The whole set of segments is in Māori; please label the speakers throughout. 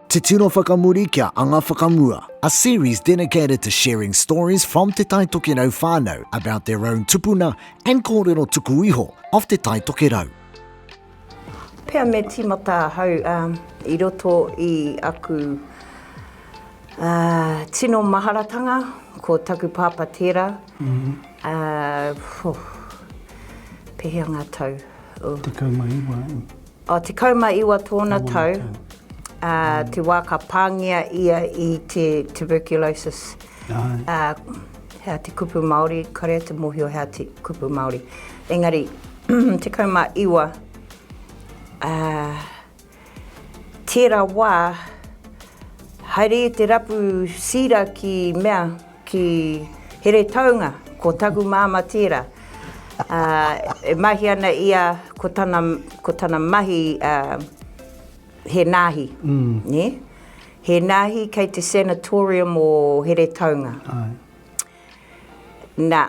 Speaker 1: Te Tino Whakamuri kia Anga Whakamua A series dedicated to sharing stories from Te Tai Tokerau whānau about their own tupuna and kōrero tuku iho of Te Tai Tokerau.
Speaker 2: Pea me timata ahau i roto i aku tino maharatanga, ko taku pāpā tērā, pehea ngā tau? Tekau ma
Speaker 3: iwa.
Speaker 2: I 19 tōna tau, te wā ka pāngia ia i te tuberculosis, hea te kupu Māori, kare te mōhio hea te kupu Māori. Engari, 19, tērā wā, haere i te rapu sīra ki mea, Ki Heretaunga, ko taku māmā tērā. E mahi ana ia ko tana, ko tana mahi he nāhi, nē? He nāhi kei te sanatorium o Heretaunga. Nā,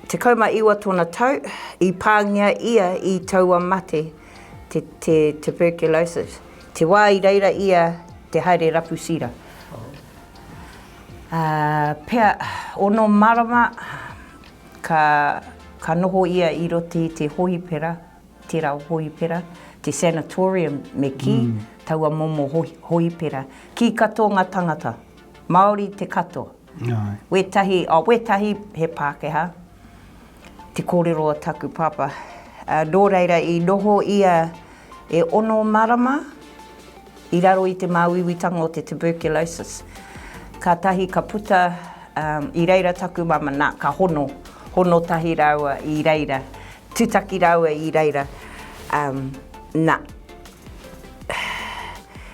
Speaker 2: tekau ma iwa tōna tau, i pāngia ia i taua mate, te, te tuberculosis. Te wā i reira ia te haere rapu sira. Ā, pea, ono marama ka, ka noho ia i roto i te hohipera, tērā hohipera, te sanatorium me kī, taua momo hohipera. Kī katoa ngā tangata, Māori te katoa. Wētahi, oh, wētahi he Pākehā. Te kōrero o taku pāpā. Nō reira i noho ia e ono marama i raro i te māuiuitanga o te tuberculosis. Kātahi ka puta i reira taku mama, nā, ka hono, hono tahi rāua i reira, tutaki rāua i reira, nā.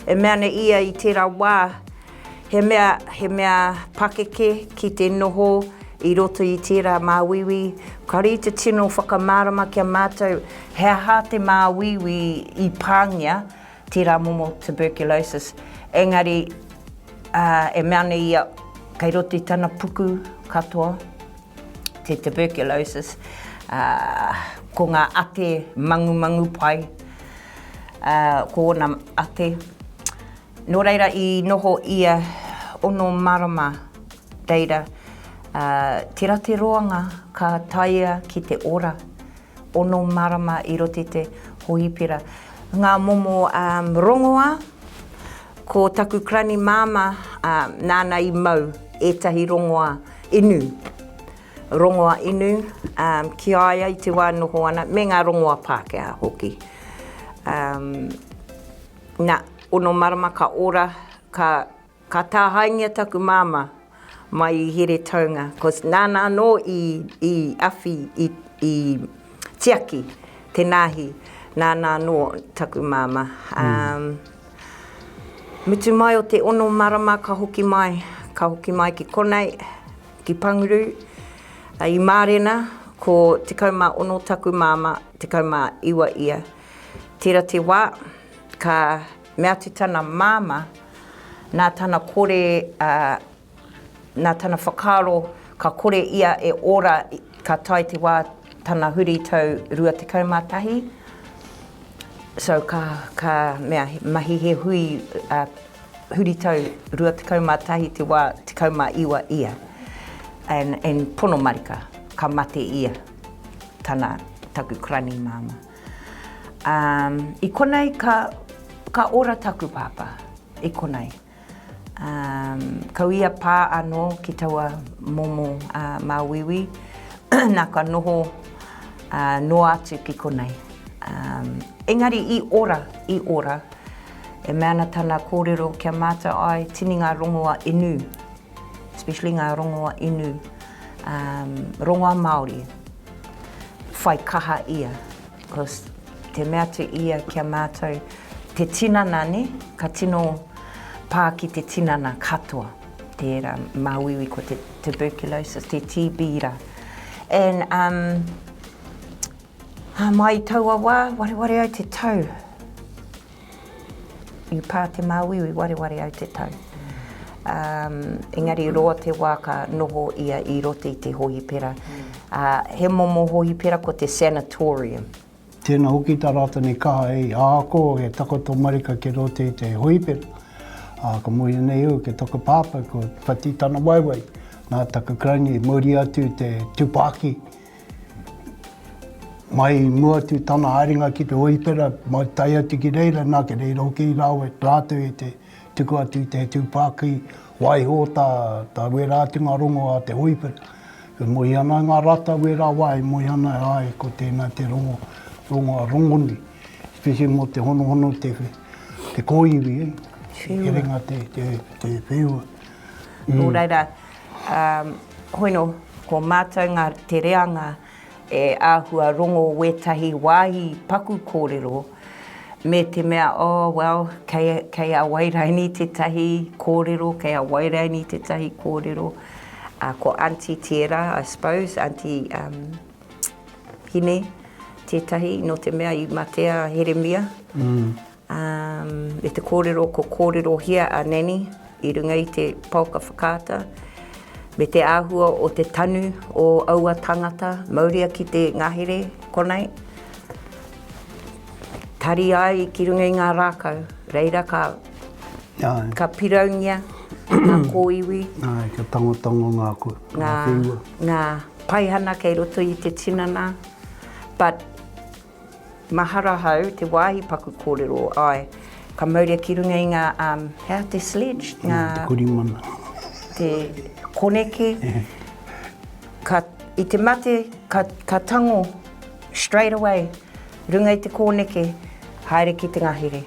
Speaker 2: E mea ana ia i tērā wā. He mea, he mea pakeke ki te noho i roto i tērā māuiui, ka rī te tino whakamārama ki a mātou he aha te māuiui i pāngia tērā momo tuberculosis. Engari, ā, e mea ana ia, kei roto i tana puku katoa te tuberculosis, ā, ko ngā ate mangumangu pai, ā, ko ōna ate, Nō reira i noho ia ono marama reira tera te roanga ka taea ki te ora ono marama i rote te hoipera. Nga momo rongoa ko taku krani mama nana i mau etahi rongoa inu rongoa inu ki a ia i te wa noho ana me nga rongoa Pakeha hoki. Na, ono marama ka ora, ka, ka tāhaengia taku māmā mai i Heretaunga, cos nāna anō i, i awhi, i, i tiaki te nāhi, nāna anō taku māmā. Um, mutu mai o te ono marama ka hoki mai, ka hoki mai ki konei, ki Panguru, i Mārena, ko 16 taku māmā, 19 ia. Tira te wā, ka mea atu tana māmā, nā tana kore, ā, nā tana whakaaro ka kore ia e ora ka tae te wā tana huri tau 21. So ka, ka mea, mahi he hui, ā, huri tau 21 te wā 19 ia. And, and pono marika, ka mate ia, tana, taku karani māmā. Um, i konei ka, ka ora taku pāpā, i konei. Um, kau ia pā anō ki taua momo uh, māuiui, nā ka noho uh, noa atu ki konei. Um, engari i ora, i ora, e mea ana tana kōrero kia mātou ai, tini ngā rongoa inu. especially ngā rongoa inu, um, rongoa Māori, whai kaha ia. Because te mea atu ia ki a mātou, te tinana ne, ka tino pā ki te tinana katoa, tērā māuiui ko te tuberculosis, te TB ra. And um, mai taua wā, wareware ai te tau, I pā te māuiui i wareware au te tau. Um, engari roa te wā ka noho ia i roto i te hohipera. Uh, he momo hohipera ko te sanatorium. Tēnā
Speaker 3: hoki tā rātou nei kaha hei āko, hei takoto marika ki roto i te hoipera. Ā, ka mōhio nei au ke taku pāpā ko Whati Tanawaewae, nā taku karaini, mōri atu te tupāki, Mai i mua atu tana haerenga ki te Hoipera, mai tae atu ki reira, nā, ki reira hoki i rāua rātou i te tuku atu i te tūpākī, waiho tā, tā wērā atu ngā rongo a te Hoipera. E mohi ana ai ngā rata wērā wā, e mohi ana, āe, ko tēnā te rongo, rongo a Rongoni, whiwhi mō te honohono, te, te kōiwi, herenga te, te, te wheua. Nō
Speaker 2: reira, Hoino, ko mātou ngā te reanga e āhua rongo wētahi wāhi paku kōrero me te mea, oh well, kei, kei a Wairaini tētahi kōrero, kei a Wairaini tētahi kōrero. Uh, ko Aunty Tiera, I suppose, Aunty um, Hine, tētahi, no te mea i matea Heremia. Mm. Me te kōrero ko kōrerohia a Nanny i runga i te paoka whakaata, me te āhua o te tanu o aua tāngata, mauria ki te ngahere, konei, tari ai ki runga i ngā rākau, reira ka, ka piraungia ngā kōiwi. Āe, ka tangotango
Speaker 3: ngā, ngā whenua. Ngā
Speaker 2: paihana kei roto i te tinana, but. Mahara hau te wāhi paku kōrero, āe, ka mauria ki runga i ngā, um, he aha te sledge? Ngā. Te korimana.
Speaker 3: Te
Speaker 2: koneke. Ka, i te mate, ka, ka tango straight away runga i te kōneke, haere ki te ngahere.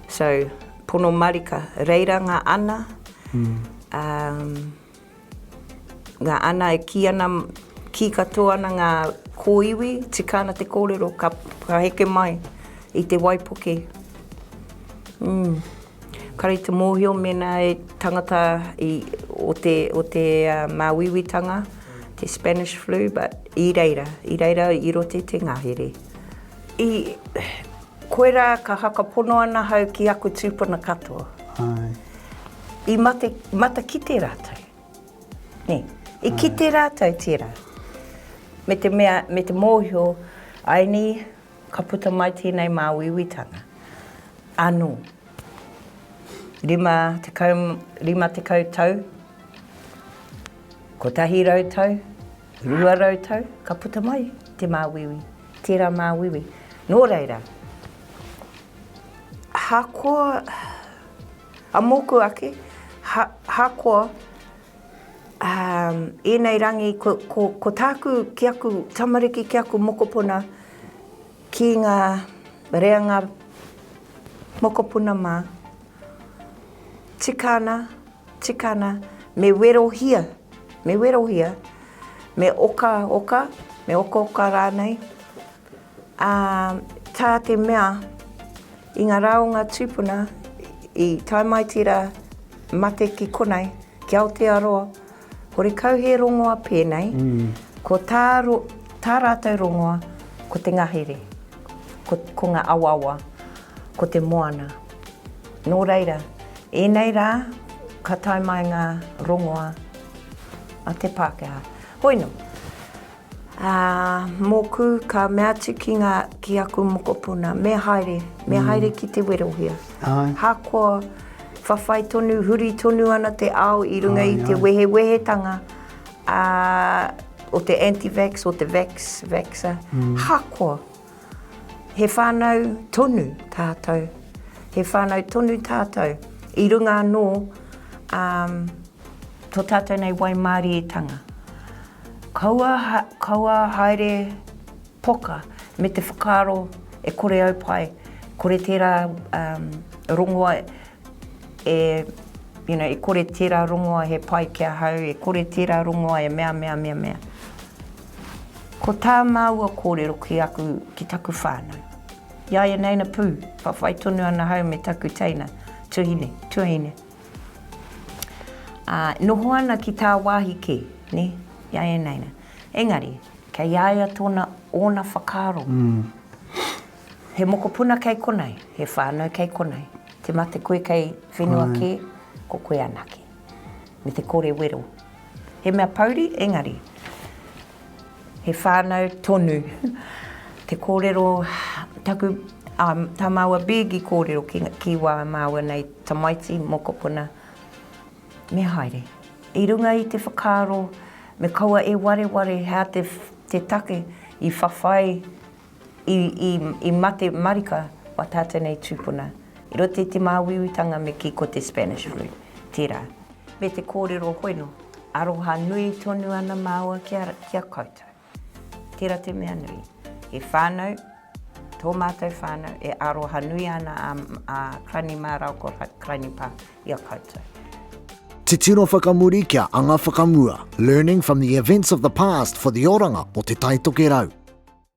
Speaker 2: So, pono marika. Reira ngā ana, um. Nga ana e ki ana ki katoa ana nga koiwi tika ana te korero ka heke mai i te waipuke umm kare te mohio mena e tangata i o te o te mawiwi tanga te spanish flu but i reira i reira i rote te ngahere i Koirā ka whakapono ana hau ki aku tūpuna katoa.
Speaker 3: Ae. I
Speaker 2: mate, matakite rātou. Nē. I Ae. kite rātou tērā. Me te mea, me te mōhio, āinī, ka puta mai tēnei māuiuitanga. Anō. Rima tekau, rima tekau tau, kotahi rau tau, rua rau tau, ka puta mai te māuiui. Tērā māuiui. Nō reira, ahakoa, a mōku ake, ahakoa ēnei rangi, ko tāku ki aku tamariki, ki aku mokopuna, ki ngā reanga mokopuna mā, tika ana, Tika ana, me werohia, me werohia, me okaoka, me okaoka rānei, ā, tā te mea i ngā rā o ngā tūpuna i tae mai tērā mate ki konei, ki Aotearoa, horekau he rongoa pēnei, ko tā, tā rātou rongoa ko te ngahere, ko, ko ngā awaawa, ko te moana. Nō reira, ēnei rā ka tae mai ngā rongoā a te Pākehā. Hoino, ā, mōku ka mea atu ki ngā, ki aku mokopuna, me haere, me haere ki te werohia. Āe. Ahakoa whawhai tonu, huri tonu ana te ao i runga i te wehewehetanga, ā, o te anti-vax, o te vax, vaxxer, ahakoa. He whānau tonu tātou. He whānau tonu tātou i runga anō ā tō tātou nei waimārietanga. Kaua, kaua haere poka me te whakaaro e kore au pai, kore tērā rongoa, e, you know, e kore tērā rongoa he pai ki ahau, e kore tērā rongoa e mea, mea, mea, mea. Ko tā māua kōrero ki aku, ki taku whānau. Iaia neina pū, whawhai tonu ana hau me taku teina, tuhine, tuahine. Ā, noho ana ki tāwāhi kē, nē, iaia neina. Engari, kei a ia tōna, ōna whakaaro. He mokopuna kei konei, he whānau kei konei. Te mate koe kei whenua kē, ko koe anake. Me te kore wero. He mea pouri, engari, he whānau tonu. Te kōrero, taku, tā māua Big i kōrero ki wā māua nei tamaiti, mokopuna, me haere. I runga i te whakaaro, me kaua e wareware, hea te take i whawhai, I, i, i mate marika o tātou nei tūpuna i roto i te māuiuitanga me kī ko te Spanish flu tērā. Me te kōrero hoino, aroha nui tonu ana māua ki a, ki a koutou. Tērā te mea nui. He whānau, tō mātou whānau, e aroha nui ana a, a Crani mā rāua ko Crani pā i a koutou.
Speaker 1: Titiro whakamuri kia anga whakamua, learning from the events of the past for the oranga o Te Taitokerau.